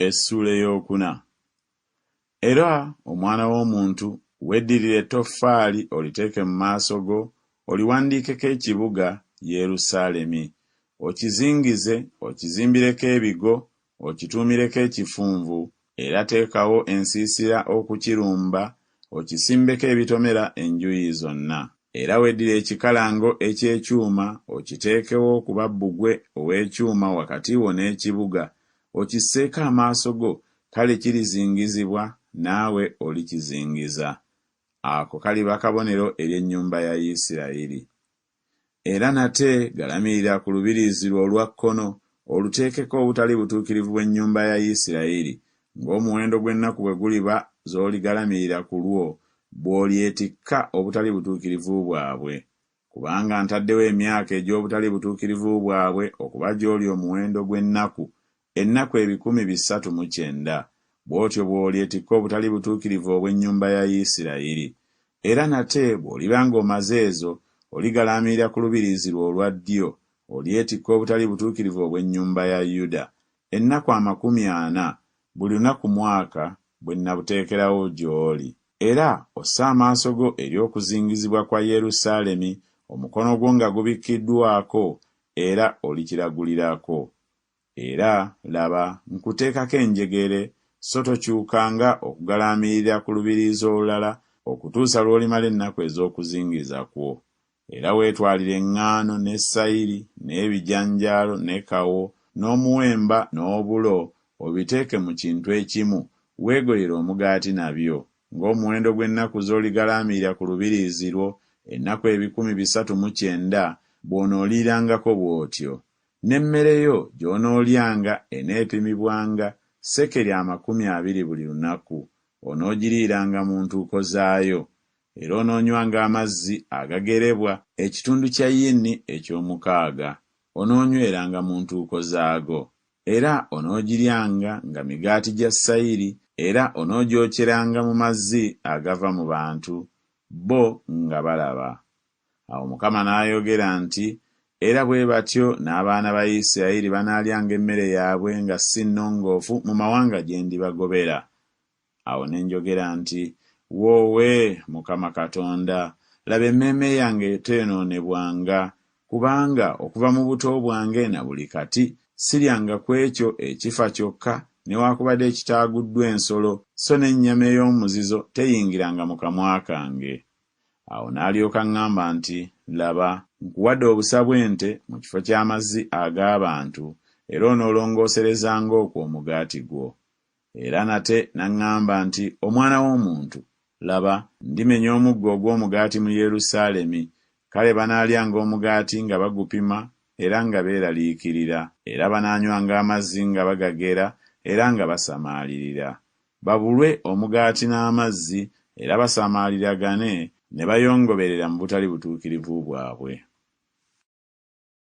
Essuula Eyookuna. Era, omwana w'omuntu, weddirire ettoffaali oliteeke mu maaso go, oliwandiikeko ekibuga, Yerusaalemi, okizingize, okizimbireko ebigo, okituumireko ekifunvu, era teekawo ensiisira okukirumba, okisimbeko ebitomera enjuyi zonna era weddire ekikalango eky'ekyuma okiteekewo kuba bbugwe ow'ekyuma wakati wo n'ekibuga okisseeko amaaso go kale kirizingizibwa naawe olikizingiza. Ako kaliba kabonero eri ennyumba ya Isirayiri. era nate galamirira ku lubiriizi lwo olwa kkono oluteekeko obutali butuukirivu bw'ennyumba ya Yisirayeli, ng'omuwendo gw'ennaku bwe guliba z'oligalamirira ku lwo, bw'olyetikka obutali butuukirivu bwabwe. Kubanga ntaddewo emyaka egy'obutali butuukirivu bwabwe okuba gy'oli omuwendo gw'ennaku Ennaku ebikumi bisatu mu kyenda, bw'otyo bw'olyetikka obutali butuukirivu obw'ennyumba ya Isirayiri. Era nate bw'oliba nga omaze ezo, oligalaamirira ku lubiriizi lwo olwa ddyo, olyetikka obutali butuukirivu obw'ennyumba ya Yuda, ennaku amakumi ana, buli lunaku mwaka bwe nnabuteekerawo gy'oli. Era osse amaaso go eri okuzingizibwa kwa Yerusaalemi, omukono gwo nga gubikkiddwako, era olikiragulirako. Era, laba, nkuteekako enjegere, so tokyukanga okugalaamirira ku lubiriizi olulala okutuusa lw'olimala ennaku ez'okuzingiza kwo. Era weetwalire eŋŋaano, ne sayiri, n'ebijanjaalo, ne kawo, n'omuwemba, n'obulo, obiteeke mu kintu ekimu, weegoyere omugaati nabyo, ng'omuwendo gw'ennaku z'oligalaamirira ku lubiriizi lwo, ennaku ebikumi bisatu mu kyenda, bw'onooliirangako bw'otyo. N'emmere yo gy'onoolyanga eneepimibwanga sekeri amakumi abiri buli lunaku, onoogiriiranga mu ntuuko zaayo. Era onoonywanga amazzi agagerebwa ekitundu kya yini eky'omukaaga, onoonyweranga mu ntuuko zaago. Era onoogiryanga nga migaati gya sayiri, era onoogyokyeranga mu mazzi agava mu bantu bo nga balaba. Awo Mukama n'ayogera nti, Era bwe batyo n'abaana ba Isirayiri banaalyanga emmere yaabwe nga si nnongoofu mu mawanga gye ndibagobera. Awo ne njogera nti, Woowe, Mukama Katonda, laba emmeeme yange eteenonebwanga, kubanga okuva mu buto bwange na buli kati siryanga ku ekyo ekifa kyokka newakubadde ekitaaguddwa ensolo, so n'ennyama ey'omuzizo teyingiranga mu kamwa kange. Awo n'alyoka aŋŋamba nti, Laba, nkuwadde obusa bw'ente mu kifo ky'amazzi ag'abantu, era onoolongooserezanga okwo omugaati gwo. Era nate n'aŋŋamba nti, Omwana w'omuntu, laba, ndimenya omuggo ogw'omugaati mu Yerusaalemi, kale banaalyanga omugaati nga bagupima era nga beeraliikirira, era banaanywanga amazzi nga bagagera era nga basamaalirira, babulwe omugaati n'amazzi era basamaaliragane ne bayongoberera mu butali butuukirivu bwabwe.